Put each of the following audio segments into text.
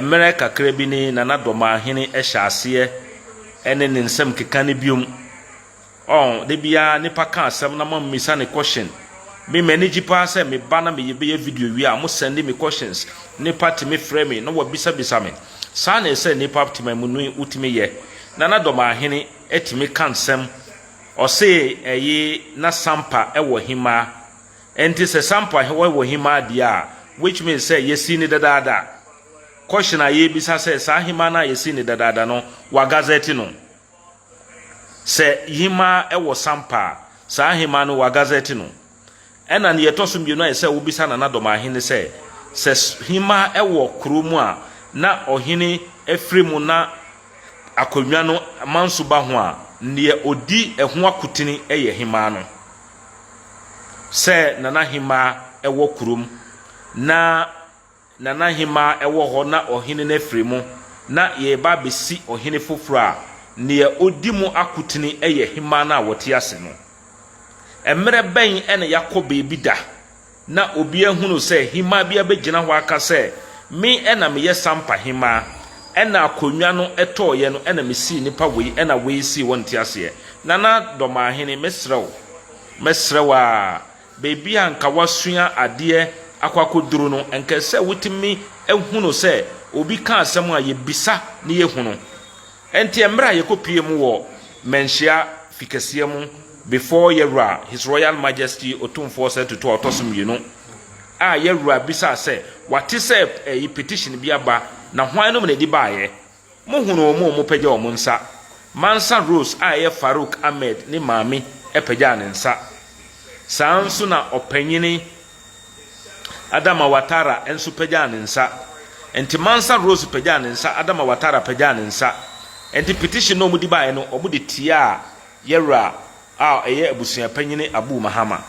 Mmerɛ kakra bi ni na na Dɔmahene hyɛ aseɛ ne ne nsɛm keka no biom. Ɔn, da biara nipa ka asɛm na mo mmisa no question. Me m'ani gye paa sɛ me ba na me bɛyɛ video wie a mo sɛndi me questions. Nipa tumi frɛ me na wabisa bisa me. Saa na ɛsɛ nipa tema mu no wotumi yɛ. Na na Dɔmahene tumi ka nsɛm. Ɔse ɛye na sampa wɔ he mmaa. Enti sɛ sampa hewa wɔ hemaa deɛ a, which means sɛ yɛsii no dadaada. Question a yɛrebisa sɛ saa hemaa no a yɛsii no dadaada no, wɔagazɛte no? Sɛ hemaa wɔ sampa a, saa hemaa no wɔagazɛte no? Ɛna nea ɛtɔ so mmienu a ɛsɛ sɛ wobisa Nana Domahe ne sɛ, sɛ hemaa wɔ kuro mu a na ɔhene firi mu na akonnwa no manso ba ho a, nea ɔdi ɛho akotini yɛ hemaa no? sɛ Nana Hemaa wɔ kurom, na Nana Hemaa wɔ hɔ na ɔhene no afiri mu, na yɛreba abɛsi ɔhene foforɔ a, deɛ ɔdi mu akotene yɛ Hemaa no a ɔte ase no. Mmerɛ bɛn na yɛakɔ baabi da? Na obiara hunuu sɛ hemaa bi abɛgyina hɔ aka sɛ, Me na meyɛ Sampa hemaa. Ɛna akonnwa no tɔeɛ no ɛna mesii nnipa wei ɛna wei sii hɔ nteaseɛ. Nana Dɔmaahene, mɛsrɛ wo, mɛsrɛ wo ara, baabi a nka woasua adeɛ akɔ akɔduru no, nka ɛsɛ sɛ wotumi hunu sɛ obi ka asɛm a yɛbisa na yɛhunu. Ɛnteɛ mmerɛ a yɛkɔpue mu wɔ Manhyia fikɛseɛ mu before Yɛwura His Royal Majesty Otumfoɔ Sir Tutu a Ɔtɔso Mmienu a Yɛwura bisaa sɛ wate sɛ ɛyi petition bi aba na hwan nom na ɛdi baeɛ? Mo hunu wɔn a wɔpagya wɔn nsa? Mansa Rose a ɛyɛ Farouk Ahmed ne maame pagyaa ne nsa. Saa nso na Ɔpanyini. Adama Ouattara nso pagyaa ne nsa. Enti Mansa Rose pagyaa ne nsa, Adama Ouattara pagyaa ne nsa. Enti petition no a wɔde baeɛ no, wɔde tiaa Yɛwura a ɛyɛ abusua panyin Abou Mahama.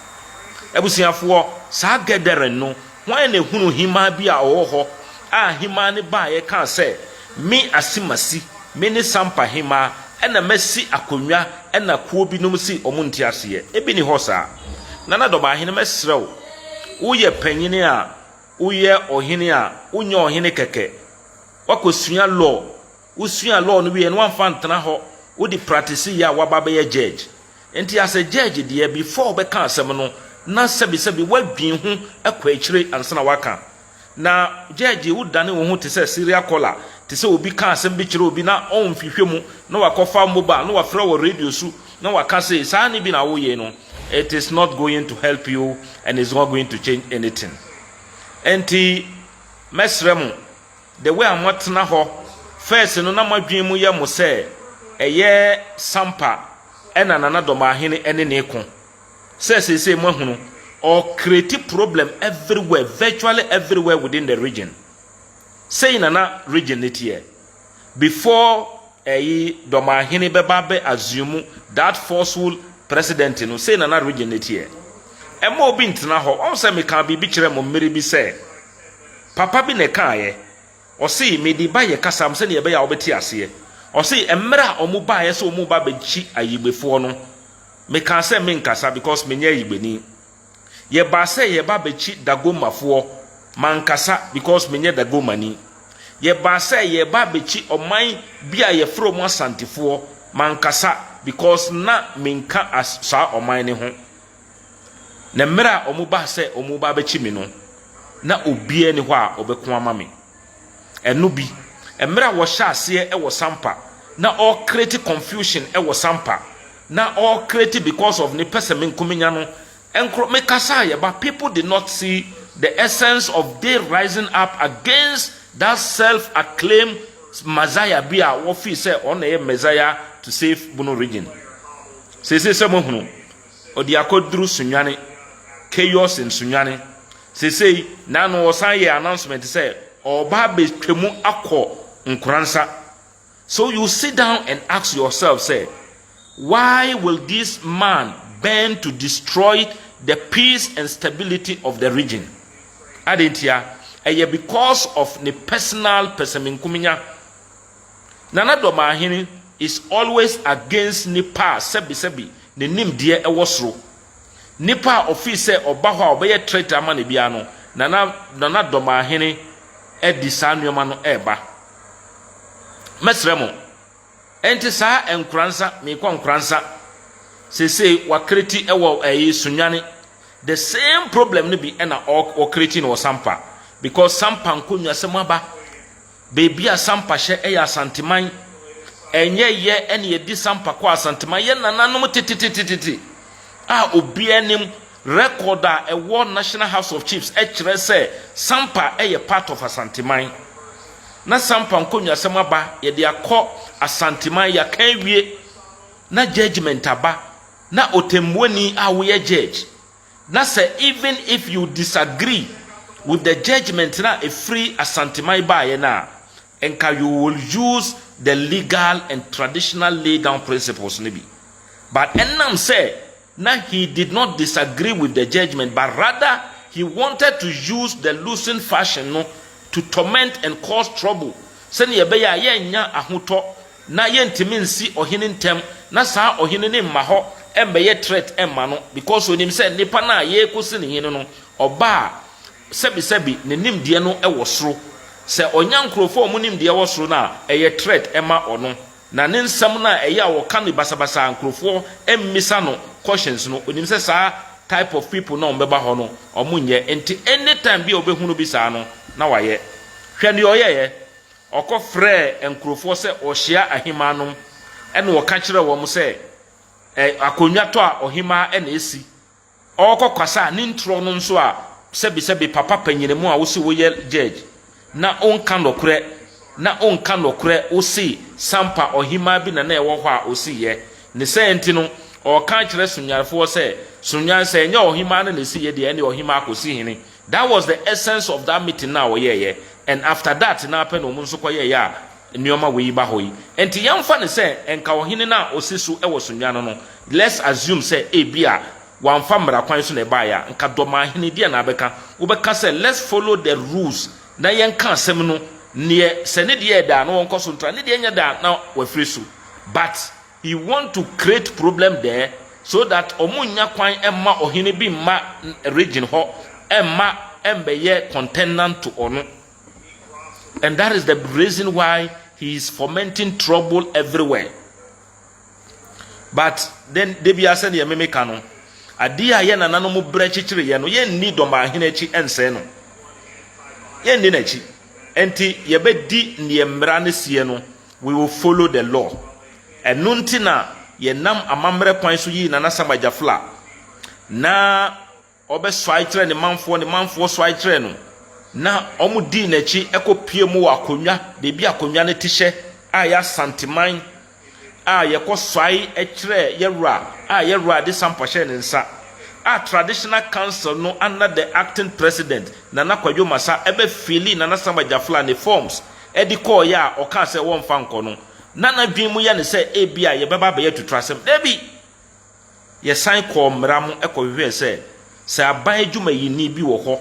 Abusuafoɔ, saa gathering no, hwan na ɛhunuu hemaa bi a ɔwɔ hɔ a hemaa no baeɛ kaa sɛ, Me Asimasi, me ne Sampa hemaa na masi akonnwa na kuo binom se wɔnte aseɛ? Ebi nni hɔ saa. Nana Dɔbahene mɛsrɛ wo, woyɛ panyin a woyɛ ɔhene a, wonyɛ ɔhene kɛkɛ. Woakɔsua law. Wosuaa law no wieɛ no, woamfa antena hɔ. Wode practiceeɛ a, woaba abɛyɛ judge. Nti as a judge deɛ, before wobɛka asɛm no, na sɛbesɛbe woadwen ho kɔ akyire ansa na woaka. Na gyɛɛgyee wo dane wo ho te sɛ serial kɔla te sɛ obi ka asɛm bi kyerɛ obi na ɔnhwehwɛ mu na wakɔfa mobile na wafrɛ wɔ radio su na waka sei saa ne bi na woyɛ no it is not going to help you and it's not going to change anything ɛnti mɛsrɛ mo the way a moatena hɔ first no na moadwene mu yɛ mo sɛ ɛyɛ sampa ɛna nana dɔmahene ɛne ne ko Sɛ seesei moahunu, ɔ create problem everywhere, virtually everywhere within the region. Sei na na region no teɛ before ɛyi Dɔmahene bɛba abɛ assume that forceful president no, sei na na region no teɛ. Ɛmma obi ntena hɔ, wahu sɛ mekaa biribi kyerɛɛ mo mmere bi sɛ, papa bi na ɛkaaeɛ. Ɔse, Mede baeɛ kasa m sɛdeɛ ɛbɛyɛ a wobɛte aseɛ. Ɔse, Mmerɛ a wɔn baeɛ sɛ wɔn reba abɛkyi Ayigbefoɔ no, mekaa sɛ menkasa because menyɛ Ayigbeni. Yɛbaa sɛ yɛreba abɛkyi Dagomafoɔ, mankasa because menyɛ Dagomani. Yɛbaa sɛ yɛreba abɛkyi ɔman bi a yɛfrɛ wɔn Asantefoɔ, mankasa because na menka as saa ɔman no ho. Na mmerɛ a wɔbaa sɛ wɔreba abɛkye me no, na obiara nni hɔ a ɔbɛko ama me. Ɛno bi, mmerɛ a wɔhyɛ aseɛ wɔ Sampa, na ɔrekreti confusion wɔ Sampa, na ɔrekreti because of ne pɛ sɛ menko menya no, nkorɔ, mekasa a yɛba, people did not see the essence of they rising up against that self-acclaimed Messiah bi a wɔfii sɛ ɔno na ɛyɛ Messiah to save Bono region. Seesei sɛ moahunu, Ɔde akɔduru Sunyani, Chaos in Sunyani, seesei, na no ɔsan yɛɛ announcement sɛ ɔreba abɛtwa mu akɔ Nkoransa. So you sit down and ask yourself sɛ, why will this man bend to destroy the peace and stability of the region? Adɛn ntia? Ɛyɛ because of ne personal pɛsɛmenkominya. Nana Domahene is always against nipa a sɛbi sɛbi ne nimdeɛ wɔ soro. Nipa a ɔfii sɛ ɔba hɔ a ɔbɛyɛ threat ama no biara no, Nana Nana Domahene ɛde saa nnoɔma no ɛreba. Mɛsrɛ mo, ɛnte saa Nkoransa, mekɔ Nkoransa, sesei wa create ɛwɔ ɛyi Sunyani, the same problem no bi ɛna ɔ create no wɔ Sampa, because Sampa nkonnwa sɛ mo aba. Baabi a Sampa hyɛ yɛ Asanteman. Ɛnyɛ yɛ na yɛde Sampa kɔɔ Asanteman. Yɛ nananom tetetetete a obiara nim. Record a ɛwɔ National House of Chiefs kyerɛ sɛ Sampa yɛ part of Asanteman. Na Sampa nkonnwasɛm aba, yɛde akɔ Asanteman, yɛaka awie, na judgement aba, na ɔtɛmmuani a woyɛ judge, Na sɛ even if you disagree with the judgement no a ɛfiri Asanteman baeɛ no a, nka you will use the legal and traditional laydown principles no bi. But ɛnam sɛ na he did not disagree with the judgement but rather he wanted to use the loosened fashion no to torment and cause trouble sɛdeɛ ɛbɛyɛ a yɛnnya ahotɔ na yɛntumi nsi ɔhene ntɛm na saa ɔhene no mma hɔ mmɛyɛ threat mma no because ɔnim sɛ nnipa no a yɛrekɔsi no hene no ɔba a sɛbisɛbi ne nimdeɛ no wɔ soro sɛ ɔnya nkurɔfoɔ a wɔn nimdeɛ wɔ soro no a ɛyɛ threat ma ɔno na ne nsɛm no a ɛyɛ a ɔka no basabasa a nkurɔfoɔ mmisa no questions no ɔnim sɛ saa type of people no a wɔbɛba hɔ no wɔn nyɛ nti anytime bi a ɔbɛhunu bi saa no na wayɛ hwɛ deɛ ɔyɛeɛ Ɔkɔfrɛɛ nkurofoɔ sɛ wɔhyia ahemaa nom, ɛna ɔka kyerɛɛ wɔn sɛ, Ɛ, akonnwatɔ a ɔhemaa na ɛsi. Ɔɔkɔ kwasa a ne ntorɔ no nso a sɛbesɛbe papa panyinemu a wo se wo yɛ judge na ɔnka nɔkorɛ, na ɔnka nɔkorɛ wo se sampa ɔhemaa bi na na ɛwɔ hɔ a ɔsi yɛ. Ne sɛɛ nti no ɔɔka akyerɛ Sonyanfoɔ sɛ, Sonyan sɛ ɛnyɛ ɔhemaa no na ɛsi yɛ deɛ ɛnneɛ ɔhemaa kɔsi hene. That was the essence of that meeting no a wɔyɛeɛ and after that no ara pɛ na wɔn nso kɔyɛeɛ a nneɛma wei ba hɔ yi. Nti yɛmfa no sɛ nka ɔhene no a ɔsi so wɔ Sunyani no, let's assume sɛ ebia wamfa mmara kwan so na ɛbaeɛ a, nka Dɔmahene deɛn na abɛka? Wobɛka sɛ let's follow the rules na yɛnka asɛm no neɛ sɛ ne deɛ yɛ dɛ a na wɔnkɔ so ntra, ne deɛ nyɛ dɛ a na wɔafiri so. But He want to create problem there so that ɔmo nnya kwan mma ɔhene bi mma region hɔ mma ɛmbɛyɛ contendant to ɔno and that is the reason why he is fomenting trouble everywhere but then debia sɛdeɛ meme ka no adeɛ a yɛ nananom brɛ kyekyere yɛ no yɛnni dɔmahene akyi ɛnsɛe no yɛnni n'akyi ɛnti yɛbɛdi neɛ mmara no sie no We will follow the law Ɛno nti na yɛnam amammerɛ kwan so yii Nana Sam Agyafla na ɔbɛsɔae kyerɛɛ ne manfoɔ, ne manfoɔ sɔae kyerɛɛ no na wɔdii n'akyi kɔpuee mu wɔ akonnwa, baabi a akonnwa no te hyɛ a ɛyɛ Asanteman a yɛkɔsɔae kyerɛɛ yɛn wura a yɛn wura de sampa hyɛɛ ne nsa a Traditional Council no under the Acting President Nana Kwadwo Masa bɛfeeli Nana Sam Agyafla ne forms de kɔeɛ a ɔkaa sɛ wɔmfa nkɔ no, na n'adwene mu yɛ no sɛ ebia yɛbɛba abɛyɛ atutrasɛm. Dabi! Yɛsan kɔɔ mmara mu kɔhwehwɛɛ sɛ, sɛ aban adwumayini bi wɔ hɔ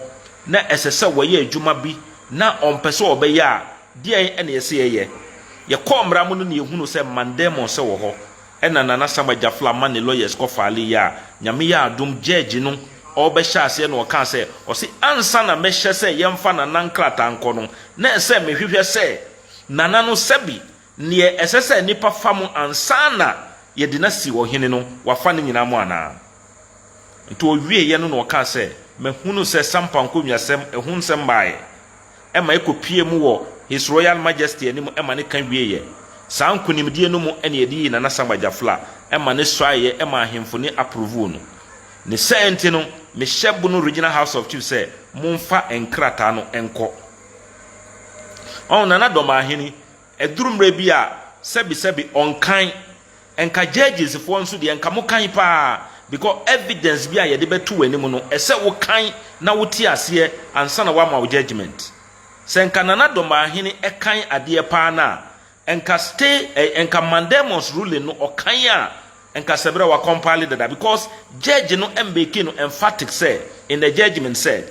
na ɛsɛ sɛ wɔyɛ adwuma bi na ɔmpɛ sɛ ɔbɛyɛ a, deɛn na ɛsɛ yɛyɛ? Yɛkɔɔ mmara mu no na yɛhunuu sɛ Mandemose wɔ hɔ, Ɛna Nana Sama Gyafla ma ne lawyers kɔ file yɛ a, Nyame yɛ adom judge no ɔɔbɛhyɛ aseɛ na ɔkaa sɛ, ɔse ansa na mɛhyɛ sɛ yɛmfa Nana nkrataa nkɔ no, na ɛsɛ mehwehwɛ sɛ Nana no sɛbe neɛ ɛsɛ sɛ nipa fa mo ansa na yɛde no asi ɔhene no wafa ne nyinaa mo anaa. Nti ɔwieɛ no na ɔkaa sɛ, mahunu sɛ Sampa Nkonwiasɛm ɛho nsɛm baeɛ ma ɛkɔpuee mu wɔ His Royal Majesty anim ma no ka wieeɛ. Saa nkonimdie no mu na yɛde yii Nana Sam Agyafla ma no suaeɛ ma ahemfo no aprovoo no. Ne saa nti no, mehyɛ Bono Regional House of Chiefs sɛ momfa nkrataa no nkɔ. Ɔho Nana Dɔmahene Ɛduru mmerɛ bi a sɛbi sɛbi ɔnkan. Nka judges foɔ nso deɛ nka mokan paa because evidence bi a yɛde bɛto w'anim no ɛsɛ wokan na wote aseɛ ansa na woama wo judgement. Sɛ nka Nana Domahene ɛkan adeɛ paa no a nka stay ɛɛ nka Mandelmos ruling no ɔkan a nka sɛberɛ wa compile dada because judge no mmake no emphatic sɛ in the judgement sɛ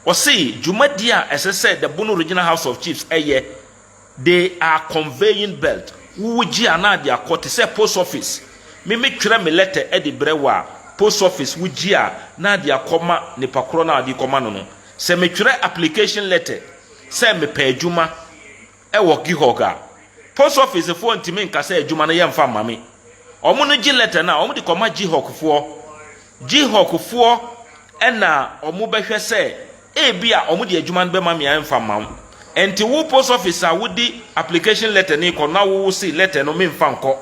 ɔse dwumadie a ɛsɛ sɛ the Bono Regional House of Chiefs ɛyɛ They are conveying belt wo wo gye anaa de akɔ te sɛ post office me me twerɛ me letter de brɛ wo a post office wo gye a naa de akɔ ma nipa korɔ no a ɔde kɔ ma no no sɛ me twerɛ application letter sɛ me pɛ adwuma wɔ Gihog a post office foɔ ntumi nka sɛ adwuma no yɛ mfa mma me ɔmo no gye letter no a ɔmo de kɔ ma Gihog foɔ Gihog foɔ na ɔmo bɛhwɛ sɛ Ebia wɔde adwuma no bɛma me a ɛmfa mma wo. Ɛnte wo post office a wode application letter no rekɔ no na wo se letter no memfa nkɔ.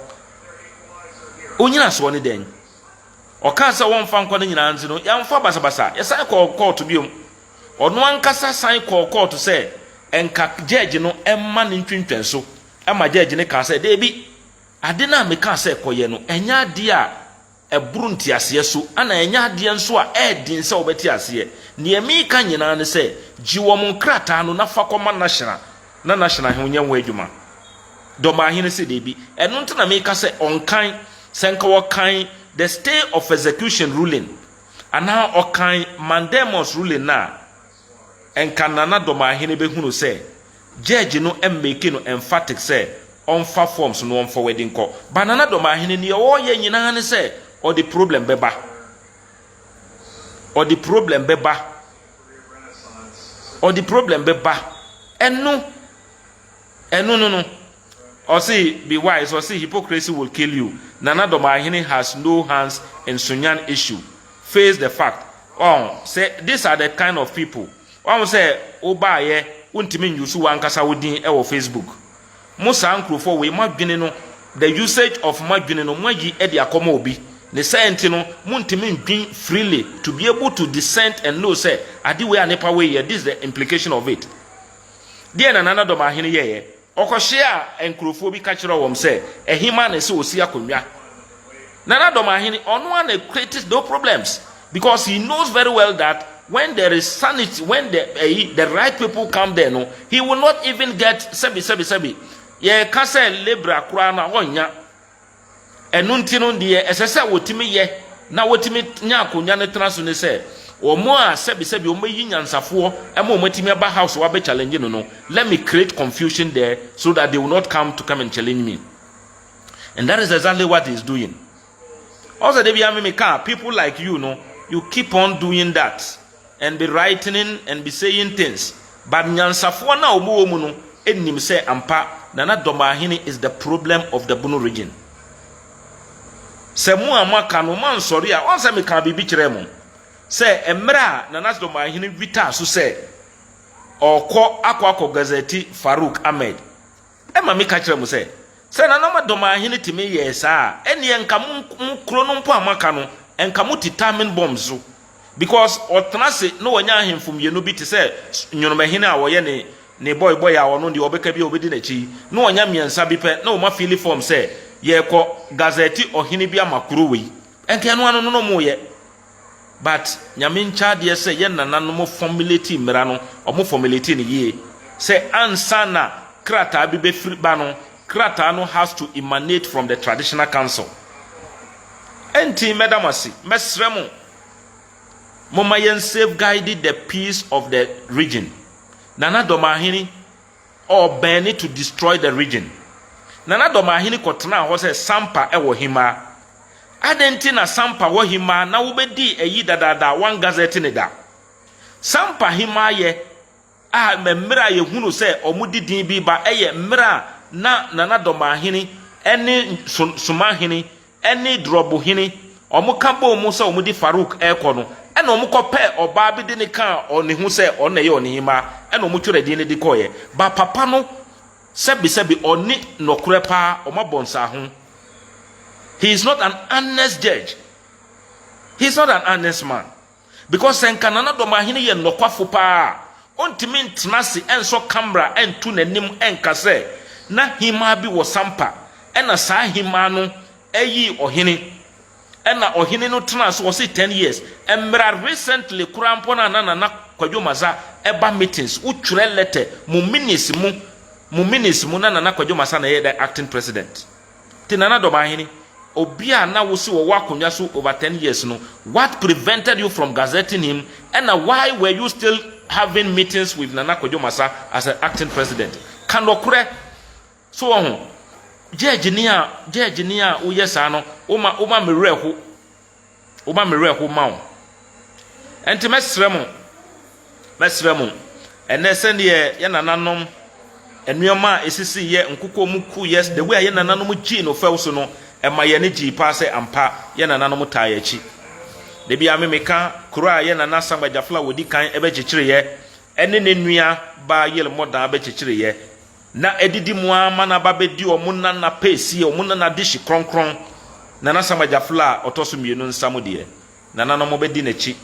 Wo nyinasoɔ ne dɛn? Ɔkaa sɛ wɔmfa nkɔ no nyinaa nti no, yɛamfa basabasa. Yɛsan kɔɔ kɔɔto biom. Ɔno ankasa san kɔɔ kɔɔto sɛ nka gyɛɛgye no mma no ntwentwɛn so, ɛma gyɛɛgye no kaa sɛ, Dabi, ade no a mekaa sɛ kɔyɛ no, ɛnyɛ adeɛ a ɛboro nteaseɛ so, ɛna ɛnyɛ adeɛ nso a ɛyɛ den sɛ wɔbɛte aseɛ. Deɛ mereka nyinaa ne sɛ, gye wɔn nkrataa no na fa kɔma National, na National he nyɛ ho adwuma. Dɔmbaahene se dabi. Ɛno nti na mereka sɛ ɔnkan, sɛ nka ɔkan the stay of execution ruling anaa ɔkan mandamus ruling no a, Nka Nana Domahene bɛhunu sɛ Judge no make no emphatic sɛ ɔmfa forms no ɔnfɔwɛde nkɔ. But Nana Domahene neɛ ɔɔyɛ nyinaa ne sɛ ɔde problem bɛba. Ɔde problem bɛba. Ɔde problem bɛba. Ɛno, ɛno no no. Ɔse be wise ɔse hypocrisy will kill you Nana Domaahene has no hands in Sunyan issue face the fact wahu sɛ this are the kind of people wahu sɛ wo baayɛ wo ntimi nyusu wankasa wo din wɔ Facebook mo saa nkurofoɔ wei mo adwene no the usage of mo adwene no mo ayi de akɔ ma obi ne saa nti no mo ntimi ndwen freely to be able to dissent and know sɛ ade wei a nipa wei yɛ this the implication of it deɛ na Nana Domaahene yɛyɛ Ɔkɔhyiaa nkurofoɔ bi ka kyerɛɛ wɔn sɛ, Ɛhemaa na ɛsɛ ɔsi akonnwa? Nana Domaahene, ɔno ara na creates those problems because he knows very well that when there is sanity, when the, eh, the right people come there no, he will not even get sɛbi sɛbi sɛbi. Yɛka sɛ Libra koraa no a, ɔnnya. Ɛno nti no, deɛ ɛsɛ sɛ wɔtumi yɛ na wɔtumi nya akonnwa no tena so ne sɛ, wɔn a sɛbesɛbe wɔbɛyi nyansafoɔ ma wɔn atumi aba house hɔ abɛ challenge no no, let me create confusion there so that they will not come to come and challenge me. And that is exactly what he is doing. Ɔsɛ da biara me meka, people like you no, you keep on doing that. and be writening and be saying things but nyansafoɔ no a wɔn wɔ mu no nim sɛ ampa Nana Domahene is the problem of the Bono region. Sɛ mo a moaka no moansɔre a ɔnsɛ mekaa biribi kyerɛɛ mo sɛ mmerɛ a Nana Domahene witaa so sɛ ɔkɔ akɔ akɔ gazɛti Farouk Ahmed Ɛma meka kyerɛ mo sɛ, sɛ na na mo dɔm ahene tumi yɛɛ saa a, ɛnneɛ nka mo mo kuro no mpo a moaka no, nka moti Tamin Bɔmb so. Because ɔtena ase na wanya ahemfo mmienu bi te sɛ Nwonomahene a ɔyɛ ne ne bɔebɔe a ɔno deɛ ɔbɛka biara ɔbɛdi n'akyi yi, na wanya mmiɛnsa bi pɛ na wɔma fiili fɔm sɛ yɛrekɔ Gazɛte ɔhene bi ama kuro wei. Nka ɛno ano no na wɔreyɛ. But Nyame nkyɛ adeɛ sɛ yɛn nananom formulate mmera no, wɔn formulate no yie. Sɛ ansa na krataa bi bɛfiri ba no, krataa no has to emanate from the traditional council. Ɛnti mɛda mo ase, mɛsrɛ mo, momma yɛn safeguide the peace of the region. Nana Domaahene, Or bɛɛne to destroy the region. Nana Dɔmahene kɔtenaa hɔ sɛ Sampa wɔ Hima. Adɛn nti na Sampa wɔ Hima na wobɛdii ayi dadaada a wɔn gazette ne da? Sampa Hima yɛ a mmerɛ a yɛhunu sɛ wɔn de din bi ba yɛ mmerɛ a na Nana Dɔmahene ne Somahene ne Drob hene, wɔka bɔɔ mu sɛ wɔde Farouk rekɔ no, ɛnna wɔkɔpɛɛ ɔbaa bi de no kaa ne ho sɛ ɔno na ɛyɛ wɔn hemmaa, ɛnna wɔtwerɛɛ din no de kɔeɛ. Ba papa no, sɛbesɛbe ɔnni nokorɛ paa, wɔabɔ nsaaho. He is not an honest judge, he is not an honest man. Because sɛ nka Nana Domaahene yɛ nɔkwafo paa a, ontumi ntena ase ɛnsɔ camera ɛnto n'anim ɛnka sɛ na hemmaa bi wɔ Sampa ɛna saa hemmaa no ɛyii ɔhene ɛna ɔhene no tenaa so ɔse ten years ɛmmera recently koraa mpo no a na Nana Kwadwo Masa ɛba meetings wo twerɛ letter mo minutes mo mo minutes mo na Nana Kwadwo Masa na ɛyɛ dɛn acting president Te Nana Domahene, obi a na wo se ɔwɔ akonnwa so over ten years no, what prevented you from gazetting him ɛna why were you still having meetings with Nana Kwadwo Masa as an acting president? Ka nɔkorɛ, so wɔ ho? Judge ni a, judge ni a woyɛ saa no, woma, woma me werɛ ho. Woma me werɛ ho ma wo. Ɛnti mɛsrɛ mo, mɛsrɛ mo, ɛnɛ sɛdeɛ yɛ nananom nneɛma a ɛsisi yɛ nkokɔ mu ku yɛ the way a yɛ nananom gyii no fɛw so no ɛma yɛ ne gyii paa sɛ ampa yɛ nananom taa yɛ akyi. Da bi a me meka kuro a yɛ nana Sam Agyafla wɔdi kan ɛbɛkyekyere yɛ ɛne ne nua baa Yel Mɔdaa bɛkyekyere yɛ. Na adidi mu ara ma n'aba bɛdi wɔn nana pɛɛsie, wɔn nana dehye kronkron, Nana Sam Agyafla a ɔtɔ so mmienu nsa mu deɛ. Nananom bɛdi n'akyi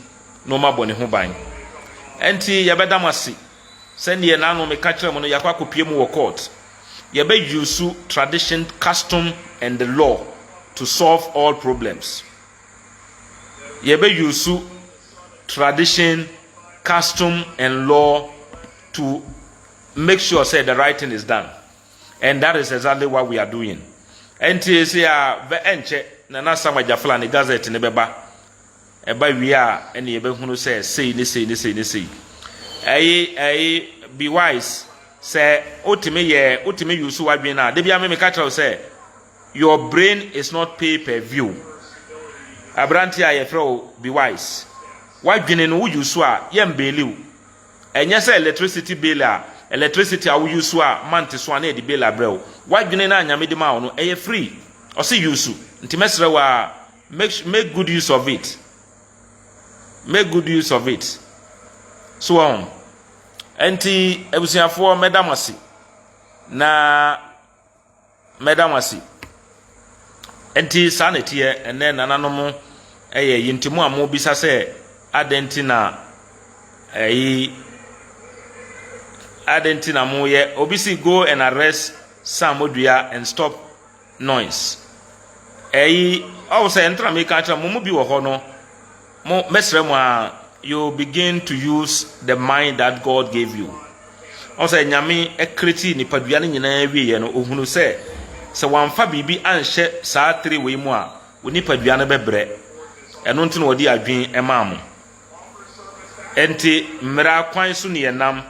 na wɔabɔ ne ho ban. Ɛnti yɛbɛda mo ase. Sɛdeɛ n'ano meka kyerɛɛ mo no, yɛakɔ akɔpue mu wɔ court. Yɛbɛ use tradition, custom and the law to solve all problems. Yɛbɛ use tradition, custom and law to make sure sɛ the right thing is done and that is exactly what we are doing ɛnti ɛsɛ a bɛ ɛnkyɛ Nana Sam Agyafla ne gazette ne bɛba ɛba wie a ɛne yɛbɛhunu sɛ sei ne sei ne sei ne sei ɛyi ɛyi be wise sɛ wotumi yɛ wotumi use w'adwene no a da bia me meka kyerɛ wo sɛ your brain is not pay per view aberante a yɛfrɛ wo be wise w'adwene no wo use a yɛmbɛliw Ɛnyɛ sɛ electricity bill a, electricity a wo use a month so a na yɛde bill abrɛ wo. W'adwene no a Nyame de maa wo no, ɛyɛ free. Ɔse use. Nti mɛsrɛ wo ara, make su, make good use of it. Make good use of it. So wɔ ho? Ɛnti abusuafoɔ mɛda mo ase. Na. Mɛda mo ase. Enti saa na ɛteɛ ɛnnɛ, nananom, ɛyɛ yi nti mo a mobisa sɛ adɛn nti na ɛyi adɛn nti na moyɛ obi si go and arrest Sam Odua and stop noise ɛyi ɔwɔ sɛ ɛntena meka akyerɛ mo mo bi wɔ hɔ no Mo, mɛsrɛ mo aa, you begin to use the mind that God gave you. Ɔn sɛ Nyame ɛcreatii nipadua no nyinaa wieɛ no, ohunuu sɛ, sɛ wamfa biribi anhyɛ saa tiri wei mu a, wo nipadua no bɛbrɛ. Ɛno nti na ɔde adwen maa mo. Ɛnti mmera kwan so ne yɛnam,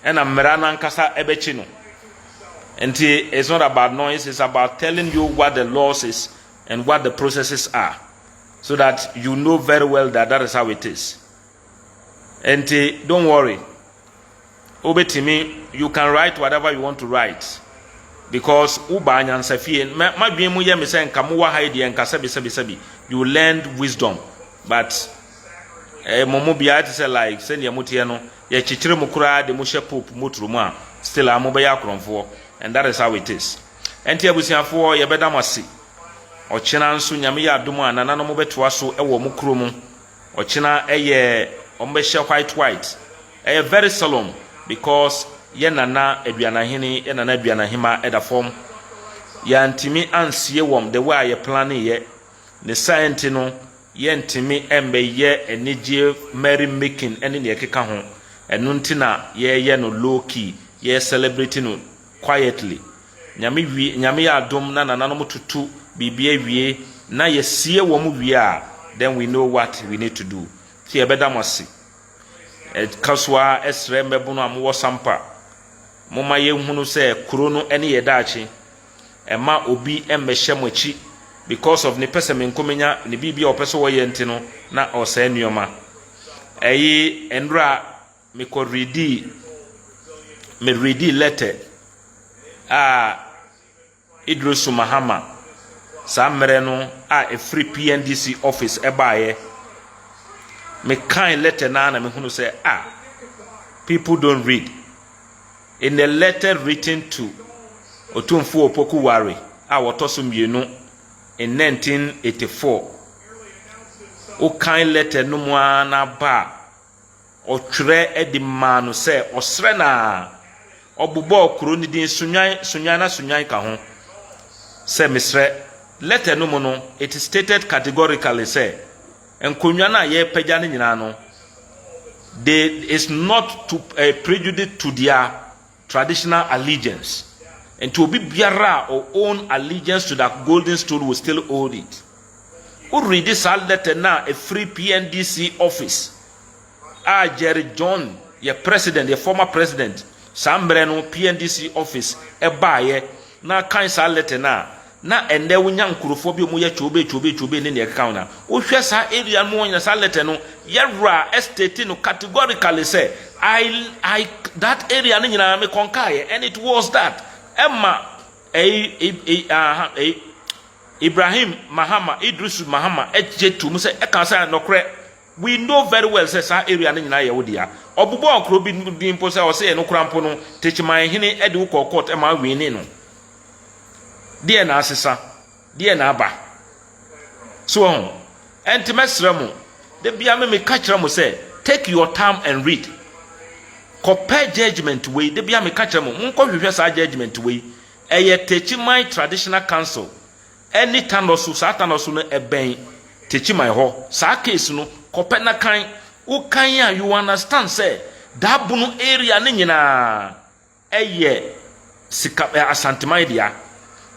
ɛna mmera no ankasa ɛbɛkye no. Ɛnti it's not about noise, it's about telling you what the laws is and what the processes are. so that you know very well that that is how it is nti don't worry wobɛtumi you can write whatever you want to write because wobaa nyansa fie madwene mu yɛ me sɛ nka mowɔ ha deɛ nka sɛbisɛbisɛbi you learned wisdom but eh, mo mu biara te sɛ like sɛdeɛ moteɛ no yɛkyekyere mo koraa de mo hyɛ pope motoro mu a still a mobɛyɛ akorɔmfoɔ and that is how it is Ɛnti abusuafoɔ yɛbɛda mo ase ɔkyena nso nyame yɛ adom a nananom bɛtoa so wɔ ɔmo kuro mu ɔkyena ɛyɛ ɔmo bɛhyɛ white white ɛyɛ very solemn because yɛ nana aduanahene yɛ nana aduanahema ɛda fam yɛantimi ansie wɔm the way a yɛ plane yɛ ne saa nti no yɛntimi ɛmbɛyɛ anigyeɛ merry making ɛne neɛ ɛkeka ho ɛno nti na yɛyɛ no low key yɛ celebrate no quietly Nyame wie Nyame yɛ adom na nananom toto biribi awie na yɛsie wɔn wie a then we know what we need to do nti yɛbɛda mo ase ɛka so ara ɛsrɛ mmɛbono a mowɔ sampa moma yɛnhunu sɛ kuro no ɛne yɛ daakye ɛma obi mmɛhyɛ mo akyi because of ne pɛsɛmenkomenya ne biribi a ɔpɛ sɛ ɔyɛ nti no na ɔsɛe nneɛma ɛyi nnora Mekɔ redii me redii lɛtɛ a Idrisu Mahama saa mmerɛ no a ɛfiri PNDC office ɛbaeɛ. Mekae lɛtɛ no ara na mehunu sɛ a ah, people don't read. In a letter written to Otumfuo Opoku Ware a wɔtɔ so mmienu in 1984, wokan lɛtɛ no mu ara na ba a Ɔtwerɛ de maa no sɛ ɔsrɛ no ara. Ɔbobɔɔ kuro no din Sunyani, Sunyani na Sunyani ka ho, sɛ mesrɛ. Lɛtɛ no mu no, it stated categorically sɛ, Nkonnwa no a yɛrepagya no nyinaa no, they is not to a prejudice to their traditional allegiance nti obi biara a o own allegiance to that golden stool will still hold it wo readi saa letter no a ɛfiri PNDC office a Jerry John yɛ president yɛ former president saa mmerɛ no PNDC office ɛbaeɛ na kan saa letter no a na ɛnnɛ wonya nkurɔfoɔ bi a wɔyɛ kyoobee kyoobee kyoobee ne deɛ ɛkeka ho no a, wohwɛ saa area no ɔnya saa letter no, yɛwura state no categorically sɛ, I, I, that area no nyinaa me conquer'eɛ and it was that ɛma ɛyi, ɛyi, aha, ɛyi, Ibrahim Mahama, Idrisu Mahama gye to mu sɛ, ɛka sɛ nɔkorɛ, we know very well sɛ saa area no nyinaa yɛ wo dea. Ɔbobɔɔ kuro bi din mpo sɛ ɔsɛ ɛno koraa mpo no Techiman hene de wo kɔɔ court ma winee no. deɛ na asesa deɛ na aba so wɔn ɛnti mɛsrɛ mo de bia me meka kyerɛ mo sɛ take your time and read kɔpɛ judgement wei de bia meka kyerɛ mo monkɔhwehwɛ saa judgement wei ɛyɛ Techiman Traditional Council ɛne tanɔ so saa tanɔ so no ɛbɛn Techiman hɔ saa case no kɔpɛ na kan wokan a you understand sɛ daabono area ne nyinaa yɛ sika ɛ Asanteman dea.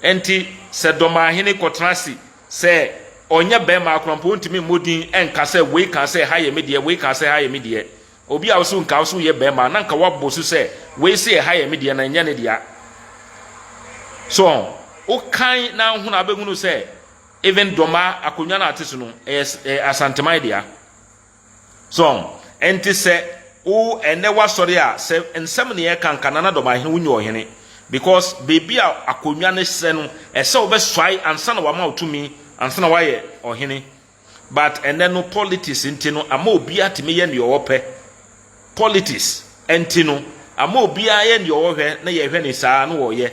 Ɛnti sɛ Dɔmahene kɔtena ase sɛ ɔnyɛ bɛɛma akora mpo ɔntumi mmɔ din nka sɛ wei kaa sɛ ha yɛ me deɛ, wei kaa sɛ ha yɛ me deɛ. Obi a ɔse nka ɔse ɔyɛ bɛɛma na nka wabɔ su sɛ wei se ɛha yɛ me deɛ na ɛnyɛ ne dea. So ɔn? Wo kan na ahunu a wobɛhunu sɛ even Dɔmaa akonnwa no a ɔte so no ɛyɛ ɛ Asanteman dea. So ɛnte sɛ wo ɛnnɛ w'asɔre a sɛ nsɛm na yɛka nka Nana Domahe wo nyɛ ɔhene because baabi a akonnwa no srɛ no ɛsɛ wo bɛsuae ansa na wama wo tumi ansa na wayɛ ɔhene but ɛnnɛ no politics nti no ama obiara tumi yɛ nea ɔpɛ politics nti no ama obiara yɛ nea ɔhwɛ na yɛhwɛ ne saa na ɔyɛ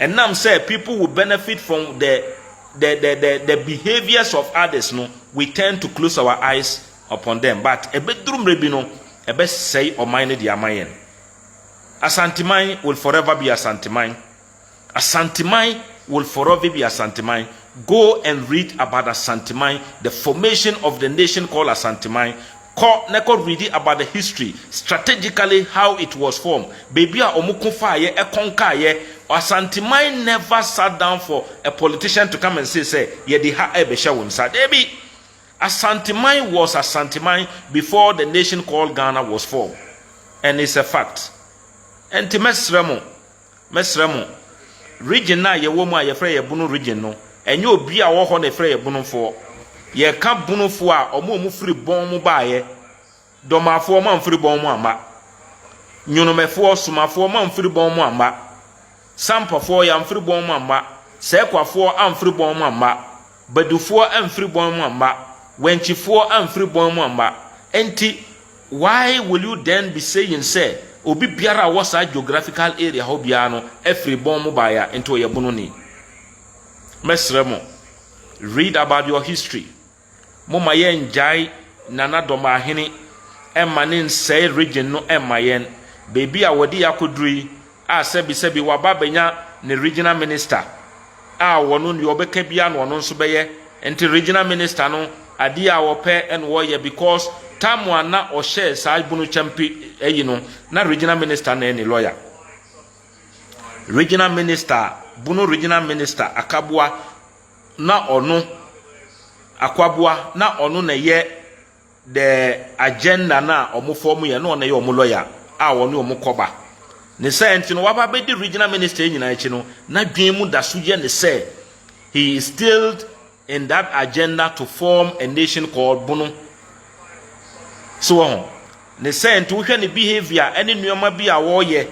Ɛnam sɛ people will benefit from the the the the the behaviours of others no, we tend to close our eyes upon them but ɛbɛduru mmerɛ bi no, ɛbɛsɛe ɔman no de ama yɛn. Asanteman will forever be Asanteman. Asanteman will forever be Asanteman. Go and read about Asanteman, the formation of the nation called Asanteman. Kɔ na kɔ readi about the history, strategically how it was formed, baabi a ɔmo ko faayɛ, ɛkɔ nkaayɛ, Asanteman never sat down for a politician to come and say sɛ yɛde ha ɛɛbɛhyɛ wo nsa, daabi! Asanteman was Asanteman before the nation called Ghana was formed and it's a fact. Ɛnti mɛsrɛ mo, Mɛsrɛ mo, region no a yɛwɔ mu a yɛfrɛ yɛn Bono region no, ɛnyɛ obi a ɔwɔ hɔ na ɛfrɛ yɛn Bonofoɔ. Yɛka Bonofoɔ a, wɔn a wɔfiri bɔn mu baeɛ, Dɔmafoɔ, wɔn a wɔfiri bɔn mu amma, Nyonomɛfoɔ, Somafoɔ, wɔn a wɔfiri bɔn mu amma, Sampafoɔ, wɔn a wɔfiri bɔn mu amma, Sɛkwafoɔ, wɔn a wɔfiri bɔn mu amma, Badufoɔ amfiri bɔn mu amma, wɛnkyifoɔ amfiri bɔn mu amma, enti why will you then be saying sɛ obi biara a ɔwɔ saa geographical area hɔ biara no afiri bɔn mu baeɛ a, enti ɔyɛ bononi? Mɛsrɛ mo, read about your history, momma yɛngyae Nana Dɔmbaahene mma ne nsɛe region no mma yɛn, baabi a wɔde yɛn akɔduru yi, a sɛbisɛbi waba abɛnya ne Regional Minister a ɔno deɛ ɔbɛka biara na ɔno nso bɛyɛ, nti Regional Minister no adeɛ a ɔpɛ na ɔyɛ because time a na ɔhyɛɛ saa bunu kyɛm pi ayi no na Regional Minister na ɛne lawyer. Regional Minister, bunu Regional Minister Akaboa na ɔno, Akwaboa na ɔno na ɛyɛ. the agenda no a wɔn fɔm yɛ na ɔno yɛ wɔn lɔya a wɔne wɔn kɔba ne sɛ nti no waba bɛdi regional minister nyinaa akyi no n'adwene mu da so yɛ ne sɛ he is still in that agenda to form a nation called bono so wɔ ho ne sɛ nti wohwɛ ne behavior ɛne nneɛma bi a wɔyɛ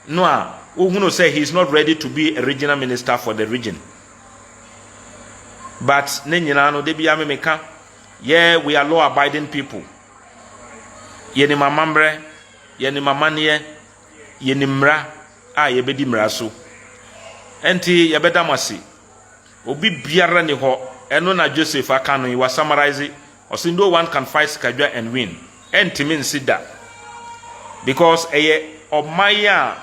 no a wohunu sɛ he is not ready to be a regional minister for the region but ne nyinaa no da bi amemeka Yɛ we are law abiding people yɛnim amammerɛ yɛnim amanneɛ yɛnim mmara a yɛbɛdi mmara so ɛnti yɛbɛda mo ase obi biara ni hɔ ɛno na Joseph aka no yi wa summarize ɔsi no one can fight sikadwa and win ɛntimi nsi da because ɛyɛ ɔman a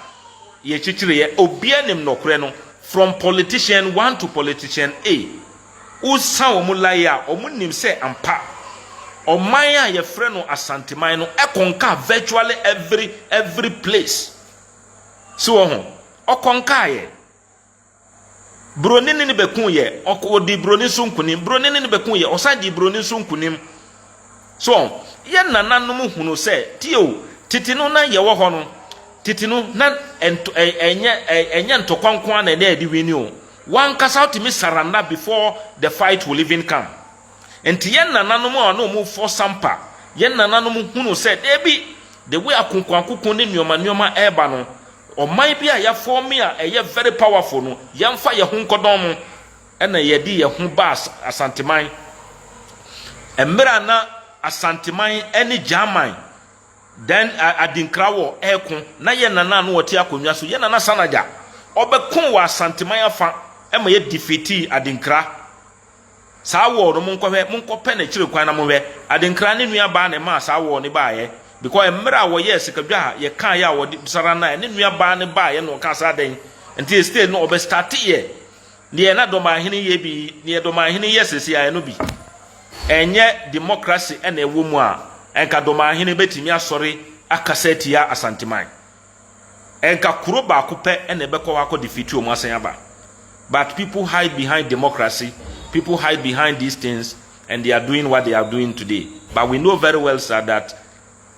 yɛkyekyere yɛ obia nim nɔkorɛ no from politician one to politician a Wosa wɔn lae a, wɔnim sɛ ampa, ɔman a wɔfrɛ no Asanteman no kɔnka virtually every every place. So wɔho? Ɔkɔnkaeɛ. Buroni ne no bɛkuuiɛ. Ɔk, ɔdii buroni nso nkunim. Buroni ne no bɛkuuiɛ. Ɔsan dii buroni nso nkunim. So yɛn nananom hunu sɛ, Tio, tete no na yɛwɔ hɔ no, tete no na ɛnto, ɛ, ɛnyɛ, ɛ, ɛnyɛ ntɔkwa nko ara na ɛnɛ yɛde wini o. W'ankasa wotumi surrender before the fight will even come. Nti yɛn nananom a na wɔn fɔ sampa, yɛn nananom hunu sɛ, dabi, the way akonkoankoko ne nnoɔma nnoɔma reba no, ɔman bi a yɛafɔɔme a ɛyɛ very powerful no, yɛmfa yɛn ho nkɔdɔn mo. na yɛde yɛn ho baa Asanteman. Mmerɛ a na Asanteman ne Gyaman, then Adinkra wɔ ɛko, na yɛn nana a na ɔte akonnwa so, yɛn nana Sanagya, ɔbɛko wɔ Asanteman afa ma yɛ defeatii Adinkra. Saa war no monkɔhwɛ, monkɔpɛ no akyire kwan na monhwɛ. Adinkra ne nua baa na ɛmaa saa war no baeɛ. Because mmerɛ a wɔyɛɛ Sikadwa a yɛkaeɛ a wɔde Sara naeɛ, ne nua baa no baeɛ na ɔkaa saa dɛn nti yɛ stay no ɔbɛ starteeɛ. Deɛ na Dɔmanhene yɛ bi, deɛ Dɔmanhene yɛ sese a, ɛno bi. Ɛnyɛ democracy na ɛwɔ mu a, nka Dɔmanhene bɛtumi asɔre akasa atia Asanteman. Nka kuro baako pɛ na ɛbɛkɔ hɔ akɔ defeat wɔn asan aba. But people hide behind democracy, people hide behind these things and they are doing what they are doing today. But we know very well sir that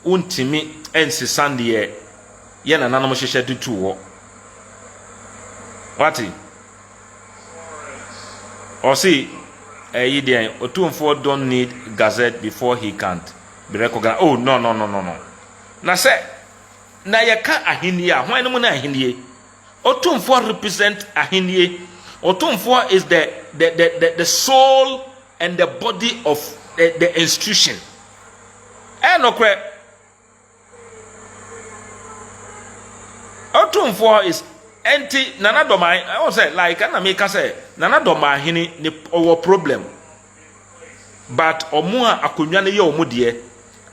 Wontumi nsesa deɛ yɛn nananom hyehyɛ de tuu hɔ. Wate? Ɔse, ɛyi deɛn, Otumfoɔ don't need gazette before he can be recognized. Oh, no, no, no, no, no. Na sɛ, na yɛka ahennie a, hwan no mu na ahennie? Otumfoɔ represent ahennie. Otumfoɔ is the, the, the, the, the sole and the body of the, the institution. Ɛyɛ nokorɛ. Ɔtumfoɔ is ɛnti Nana Dɔmae ɛwɔ sɛ like ɛna meka sɛ Nana Dɔmae hene ne ɔwɔ problem but ɔmo a akonnwa no yɛ ɔmo deɛ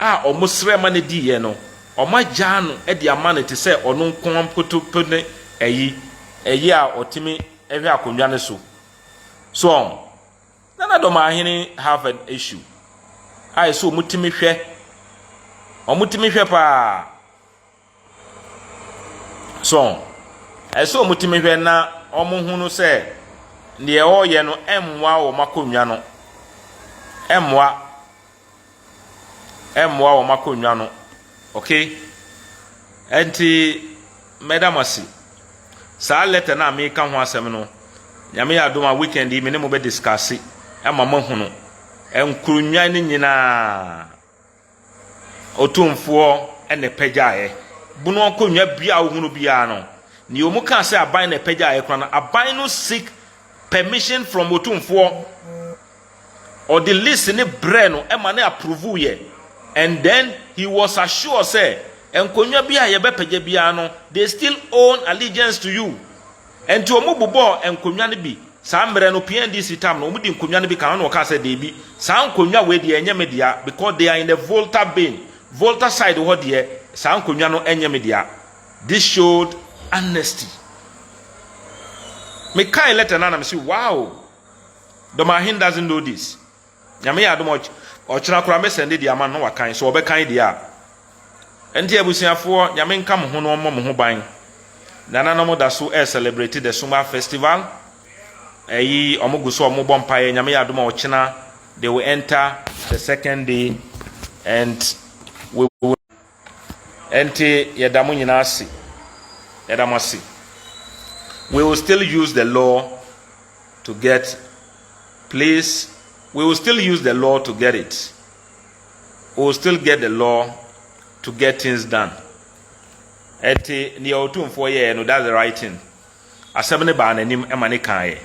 a ɔmo srɛ ma no diiɛ no ɔmo agyaa no de ama no te sɛ ɔno nko mpotopo ne ɛyi ɛyi a ɔtumi ɛhwɛ akonnwa no so so ɔmo. Na na dɔm ahene Harvard ahyiw. Ayɛ sɛ wɔtumi hwɛ. Wɔtumi hwɛ paa. So, ɛyɛ sɛ wɔtumi hwɛ na wɔhunu sɛ deɛ wɔreyɛ no mmoa wɔn akonnwa no. Ɛmmoa. ɛmmoa wɔn akonnwa no okay ɛnti mɛda mo ase saa letter no a meka ho asɛm no nyame yɛ adom a weekend yi me ne mo bɛ discuss ɛma mo ahunu nkonnwa no nyinaa otumfoɔ ɛna ɛpɛgyaeɛ bunu akonnwa bia a wohunu biara no ne ɔmu kaa sɛ aban na ɛpɛgyaeɛ kora no aban no seek permission from otumfoɔ Ɔde list no brɛɛ no ma no approve yɛ and then he was assured sɛ nkonnwa bi a yɛbɛpɛgya biara no they still own allegiance to you. Ɛnti wɔn bobɔɔ nkonnwa no bi, saa mmerɛ no PNDC tam no wɔn de nkonnwa no bi ka ho na ɔkaa sɛ deebi saa nkonnwa wei deɛ ɛnyɛ me dea because they are in the Volta bin, Volta side hɔ deɛ saa nkonnwa no ɛnyɛ me dea. This showed honesty. Me kae letter no a na me se wow! Domahin doesn't know this. Nyame yɛ adom ɔkyena koraa mɛ sɛnde deɛ ama no na wakan sɛ ɔbɛkan deɛ a. Ɛnti abusuafoɔ Nyame nka mo ho na ɔmmɔ mo ho ban. Nananom da so ɛ celebrate the Sumah festival. Ɛyi ɔmo gu so ɔmo bɔ mpaeɛ Nyame yɛ adom ɔkyena they will enter the second day and we will Ɛnti yɛda mo nyinaa ase. Yɛda mo ase. We will still use the law to get please we will still use the law to get it. We will still get the law to get things done. Ɛnti nea otumfoɔ yɛɛ no that's the right thing. Asɛm no baa n'anim ma ne kaaeɛ.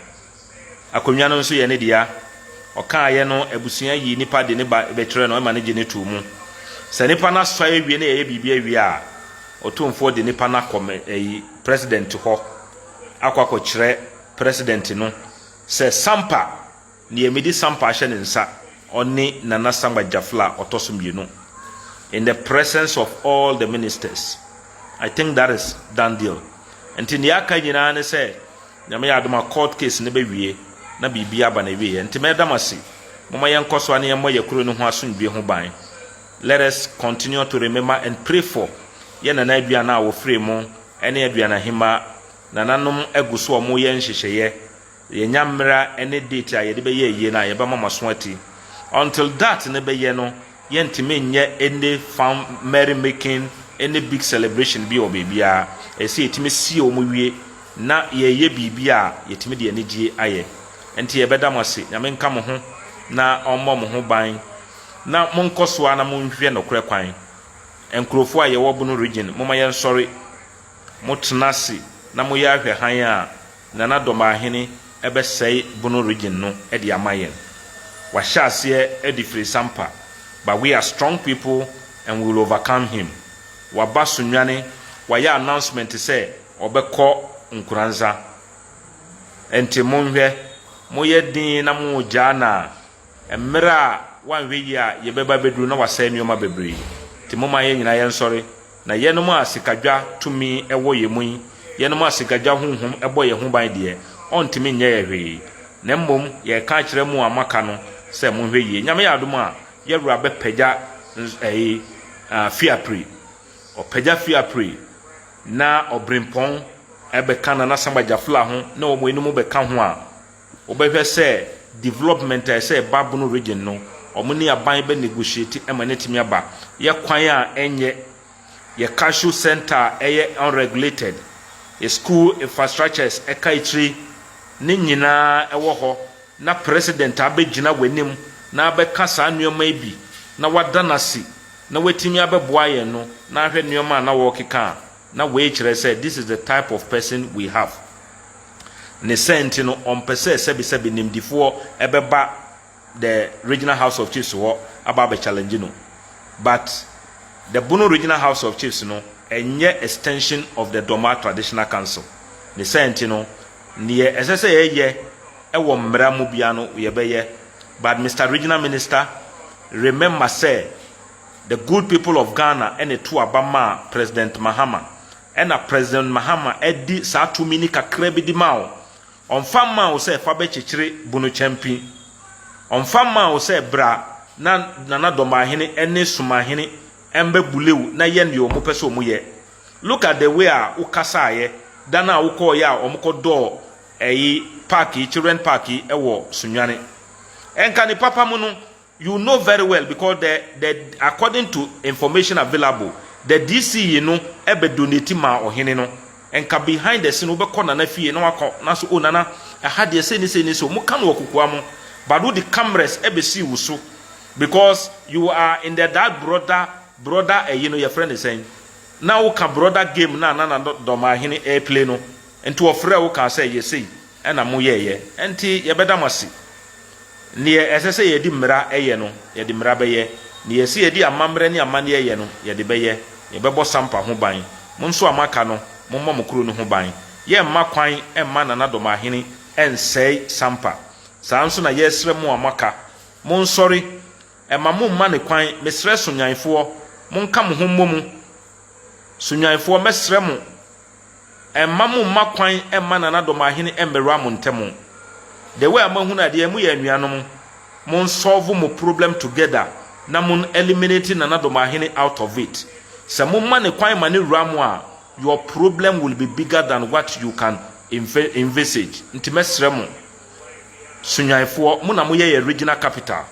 Akonnwa no nso yɛ ne dea. Ɔkaaeɛ no, abusua yii nipa de ne ba bɛkyerɛɛ no ma no gye no too mu. Sɛ nipa no asɔe awie na yɛyɛ biribi awie a, Otumfoɔ de nipa no akɔ ayi President hɔ akɔ akɔkyerɛ President no sɛ Sampa! Deɛ mede sampa ahyɛ ne nsa, ɔne Nana Sangba Gyafla a ɔtɔ so mmienu, in the presence of all the ministers, I think that is done deal. Nti deɛ aka nyinaa ne sɛ, Nyame yɛ adom a court case no bɛwie na biribi aba n'awieɛ. Nti mɛda mo ase. Momma yɛnkɔ so ara na yɛmmɔ yɛn kuro no ho asomdwoeɛ ho ban. Let us continue to remember and pray for yɛn Nana Aduana a wɔfirii mo ne Aduana Ahemaa. Nananom gu so a wɔreyɛ nhyehyɛeɛ. Yɛnya mmera ne date a yɛde bɛyɛ ayie no a yɛbɛma mo aso ati. Until that no bɛyɛ no yɛntumi nyɛ any fun merry making any big celebration bi wɔ baabiara. Ɛsɛ sɛ yɛtumi sie wɔn wie na yɛyɛ biribi a yɛtumi de anigyeɛ ayɛ. Ɛnti yɛbɛda mo ase. Nyame nka mo ho na ɔmmɔ mo ho ban. Na monkɔ so ara na monhwɛ nokorɛ kwan. Nkurofoɔ a yɛwɔ Bono region momma yɛnsɔre. Motena ase na moyɛ ahwɛ hann a Nana Domaahene bɛsɛe Bono Region no de ama yɛn. Wahyɛ aseɛ adi firisampa but we are strong people and we will overcome him. Waba Sunyani, wayɛ announcement sɛ ɔbɛkɔ Nkoranza. Ɛnti monhwɛ, moyɛ den na mogyaa no a, mmerɛ a wanhwɛ yie a yɛbɛba abɛduru na wasɛe nnoɔma bebree. Nti momma yɛn nyinaa yɛnsɔre. Na yɛnom a sikadwa tumi wɔ yɛn mu yi, yɛnom a sikadwa honhom bɔ yɛn ho ban deɛ, ɔntumi nyɛ yɛn hwee. Na mmom yɛreka akyerɛ mo a moaka no sɛ monhwɛ yie. Nyame yɛ adom a, yɛn Wura bɛpagya ɛyi, Fiapre. Ɔpagya Fiapre, na Ɔbrempɔn bɛka Nana Samba Gyafla ho, na wɔn anom bɛka ho a, Wobɛhwɛ sɛ development a ɛsɛ ɛba Bono Region no, wɔn ne aban bɛ negotiate ma no atumi aba. Yɛ kwan a ɛnyɛ, yɛ cashew centre a ɛyɛ unregulated, yɛ school infrastructures ɛka akyire, ne nyinaa ɛwɔ hɔ na President abɛgyina w'anim na abɛka saa nnoɔma yi bi na wada no ase na watumi abɛboa yɛn no na ahwɛ nnoɔma a na wɔrekeka a na wei kyerɛ sɛ this is the type of person we have. Ne sɛɛ nti no, ɔmpɛ sɛ sɛbesɛbe nimdifoɔ bɛba the regional house of chiefs hɔ aba abɛ challenge no. But the Bono regional house of chiefs no ɛnyɛ extension of the Dɔmaa traditional council. Ne sɛɛ nti no, neɛ ɛsɛ sɛ yɛyɛ wɔ mmara mu biara no yɛbɛyɛ. But Mister Regional Minister, remember sɛ the good people of Ghana na ɛto aba maa President Mahama Ɛna President Mahama de saa tumi no kakra bi de maa wo. Ɔmfa mmaa wo sɛ fa bɛkyekyere Bono Kyampi. Ɔmfa mmaa wo sɛ bra na Nana Domaahene ne Sumahene mmɛbule wo na yɛ deɛ wɔpɛ sɛ wɔyɛ. Look at the way a wo kasaeɛ da no a wo kɔeɛ a wɔkɔdɔɔ ɛyi park yi, children park yi wɔ Sunyani. Nka ne papa mu no, You know very well because the the according to information available the DC yi no bɛ donate maa ɔhene no nka behind the scene wobɛkɔ nana fie na waka na so oh nana ɛha deɛ sei ne sei ne sei ɔmo ka no wɔ kokoa mo but wode cameras ɛbɛsii wo so because you are in the that brother brother ɛyi no yɛfrɛ ne sɛn na woka brother game no a na nana dɔmaahene ɛɛplay no nti ɔfrɛɛ wo kaa sɛ yɛ sei na moyɛeɛ, ɛnti yɛbɛda mo ase. Deɛ ɛsɛ sɛ yɛde mmira yɛ no, yɛde mmira bɛyɛ, deɛ ɛsɛ yɛde amammerɛ ne amanneɛ yɛ no, yɛde bɛyɛ. Yɛbɛbɔ Sampa ho ban. Mo nso a moaka no, mommɔ mo kuro no ho ban. Yɛremma kwan mma Nana Dɔmahene nsɛe Sampa. Saa ara nso na yɛresrɛ mo a moaka, monsɔre. Mma momma no kwan. Mesrɛ Sonyanfoɔ, monka mo ho mmɔ mu. Sonyanfoɔ, mɛsrɛ mo Ɛmma mo mma kwan mma nanadɔm ahene mmɛwura mo ntɛm. The way a mo ahunu adeɛ mo yɛ anuanom, mon solve mo problem together na mon eliminate nanadɔm ahene out of it. Sɛ mo ma no kwan ma no wura mo a, your problem will be bigger than what you can envisage. Nti mɛsrɛ mo, Sunyanifoɔ, mo na mo yɛ yɛn regional capital.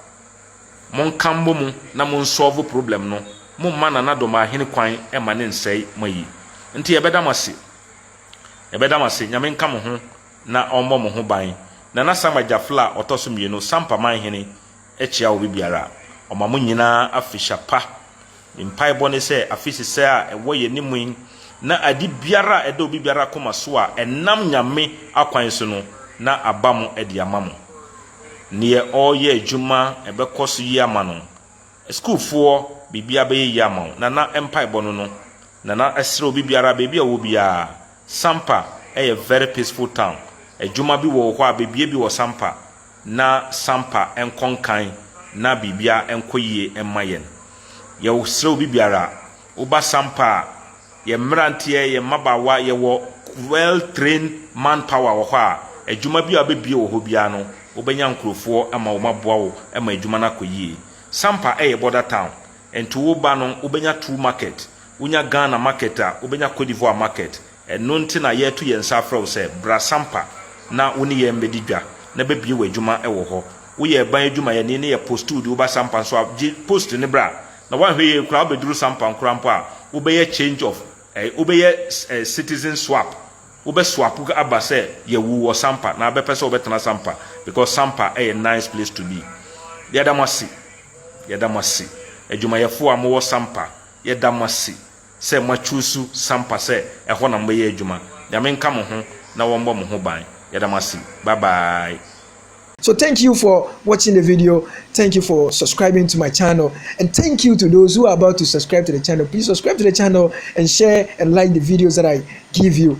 Monka mmɔ mu na mo nsɔlvo problem no, mo mma Nana Domaahene kwan mma ne nsɛe mo ayi. Nti yɛbɛda mo ase. Yɛbɛda mo ase, Nyame nka mo ho na ɔmmɔ mo ho ban. Nana Sam Agyafla a ɔtɔ so mmienu, Sam Paman Hene, kyia obi biara a ɔma mo nyinaa afehyia pa. Me mpaebɔ ne sɛ afe sesɛɛ a ɛwɔ yɛn anim yi na ade biara a ɛda obi biara koma so a ɛnam Nyame akwan so no na aba mo de ama mo. Neɛ ɔreyɛ adwuma ɛbɛkɔ so yie ama no, sukuufoɔ, biribiara bɛyɛ yie ama wo. Nana mpaebɔ no no. Nana ɛsrɛ obi biara baabi a ɔwɔ biara, Sampa ɛyɛ very peaceful town, adwuma bi wɔ hɔ a bɛbue bi wɔ Sampa, na sampa nkɔ nkan na biribiara nkɔ yie mma yɛn. Yɛsrɛ obi biara, woba sampa a, yɛn mmeranteɛ, yɛn mmabaawa, yɛwɔ well trained man power wɔ hɔ a, adwuma biara a wɔbɛbue wɔ hɔ biara no, wobɛnya nkurɔfoɔ ma wɔaboa wo ma adwuma no akɔ yie. Sampa yɛ border town, nti woba no, wobɛnya two market, wonya Ghana market a, wobɛnya Cote d'Ivoire market, Ɛno nti na yɛreto yɛn nsa afrɛ wo sɛ bra Sampa na wo ne yɛn mmɛdi dwa na bɛbue w'adwuma wɔ hɔ. Woyɛ ɛban adwumayɛni ne yɛpostuu de wo ba Sampa nso a, gye post no bra na woanhwɛ yie koraa wobɛduru Sampa nkora mpo a, wobɛyɛ change of eh, wobɛyɛ eh, citizen swap, wobɛ swap aba sɛ yɛawu wɔ Sampa na abɛpɛ sɛ wobɛtena Sampa because Sampa yɛ nice place to be. Yɛda mo ase, yɛda mo ase, adwumayɛfoɔ a mowɔ Sampa, yɛda mo ase. sɛ mo achuusu sampa sɛ ɛhɔ na mobɛyɛ adwuma nyame nka mo ho na wɔnbɔ mo ho ban yɛda mo ase bye bye. So thank you for watching the video, thank you for subscribing to my channel and thank you to those who are about to subscribe to the channel, please subscribe to the channel and share and like the videos that I give you.